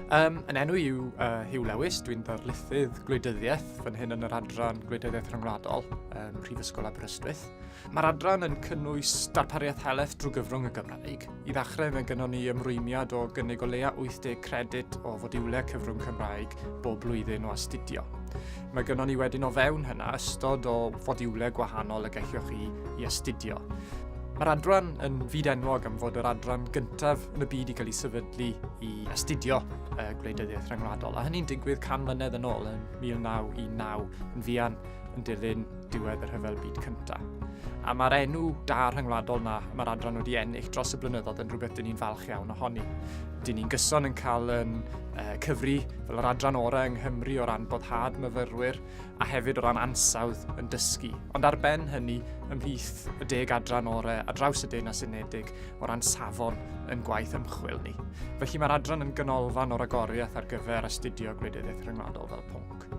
Um, yn enw yw uh, Hugh Lewis, dwi'n darlithydd gwleidyddiaeth fan hyn yn yr adran gwleidyddiaeth rhyngwladol um, Prifysgol Aberystwyth. Mae'r adran yn cynnwys darpariaeth heleth drwy gyfrwng y Gymraeg. I ddechrau mae gynnon ni ymrwymiad o gynnig o leia 80 credyd o fodiwlau cyfrwng Cymraeg bob blwyddyn o astudio. Mae gynnon ni wedyn o fewn hynna ystod o fodiwlau gwahanol y gellwch chi i astudio. Mae'r adran yn fyd enwog am fod yr adran gyntaf yn y byd i gael ei sefydlu i astudio uh, gwleidyddiaeth rhyngwladol, a hynny'n digwydd can mlynedd yn ôl yn 1919 yn fuan yn dilyn diwedd y rhyfel byd cyntaf. A mae'r enw da rhyngwladol na mae'r adran wedi ennill dros y blynyddoedd yn rhywbeth dyn ni'n falch iawn ohoni. Dyn ni'n gyson yn cael yn uh, cyfri fel yr adran orau yng Nghymru o ran boddhad myfyrwyr a hefyd o ran ansawdd yn dysgu. Ond ar ben hynny, ymhlith y deg adran orau a draws y Deyrnas Unedig o ran safon yn gwaith ymchwil ni. Felly mae'r adran yn gynolfan o'r agoriaeth ar gyfer astudio gwleidyddiaeth rhyngwladol fel pwnc.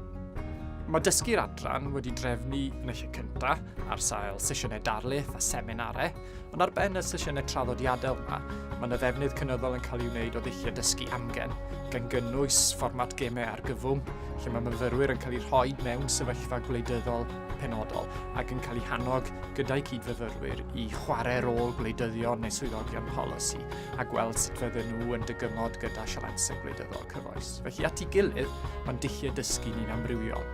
Mae dysgu'r adran wedi drefnu yn y lle cyntaf ar sail sesiynau darlith a seminarau Ond ar ben y sesiynau traddodiadol yma, mae yna ddefnydd cynyddol yn cael ei wneud o ddulliau dysgu amgen, gan gynnwys fformat gemau argyfwng, lle mae myfyrwyr yn cael eu rhoi mewn sefyllfa gwleidyddol penodol ac yn cael eu hannog gyda'i cyd-fyfyrwyr i chwarae rôl gwleidyddion neu swyddogion polisi a gweld sut fydden nhw yn dygymod gyda sialansau gwleidyddol cyfoes. Felly at ei gilydd, mae'n dulliau dysgu ni'n amrywiol.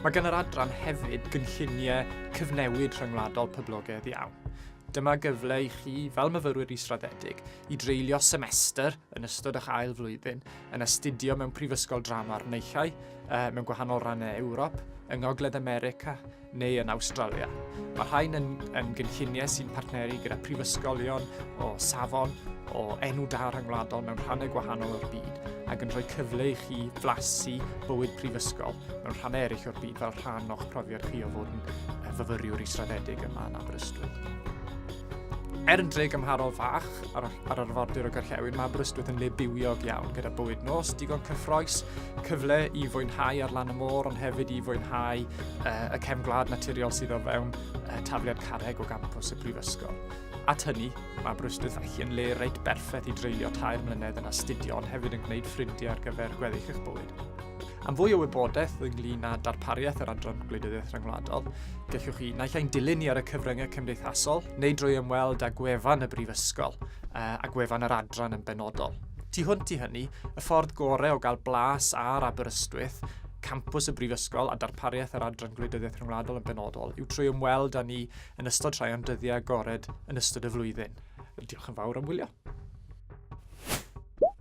Mae gan yr adran hefyd gynlluniau cyfnewid rhyngwladol poblogaidd iawn. Dyma gyfle i chi, fel myfyrwyr israddedig, i dreulio semester yn ystod eich ail flwyddyn yn astudio mewn prifysgol drama'r neichau, uh, mewn gwahanol rannau Ewrop, yng Ngogledd America neu yn Awstralia. Mae rhain yn, yn gynlluniau sy'n partneru gyda prifysgolion o safon o enw da rhyngwladol mewn rhannau gwahanol o'r byd ac yn rhoi cyfle i chi flasu bywyd prifysgol mewn rhannau eraill o'r byd fel rhan o'ch profiad er chi o fod yn fyfyriwr israddedig yma yn Aberystwyth. Er yn dre gymharol fach ar, ar arfordir o Gorllewin, mae Aberystwyth yn le bywiog iawn gyda bywyd nos, digon cyffroes, cyfle i fwynhau ar lan y môr, ond hefyd i fwynhau uh, y cefn gwlad naturiol sydd o fewn uh, tafliad carreg o gampus y Brifysgol. At hynny, mae Aberystwyth felly yn le reit berffaith i dreulio tair mlynedd yn astudio, ond hefyd yn gwneud ffrindiau ar gyfer gweddill eich bywyd. Am fwy o wybodaeth ynglyn â darpariaeth yr Adran Gwleidyddiaeth Rhyngwladol, gellwch chi naill ai'n dilyn ni ar y cyfryngau cymdeithasol neu drwy ymweld â gwefan y Brifysgol a gwefan yr adran yn benodol. Tu hwnt i hynny, y ffordd gorau o gael blas ar Aberystwyth campws y Brifysgol a darpariaeth yr Adran Gwleidyddiaeth Rhyngwladol yn benodol yw trwy ymweld â ni yn ystod rhai o'n dyddiau agored yn ystod y flwyddyn. Diolch yn fawr am wylio.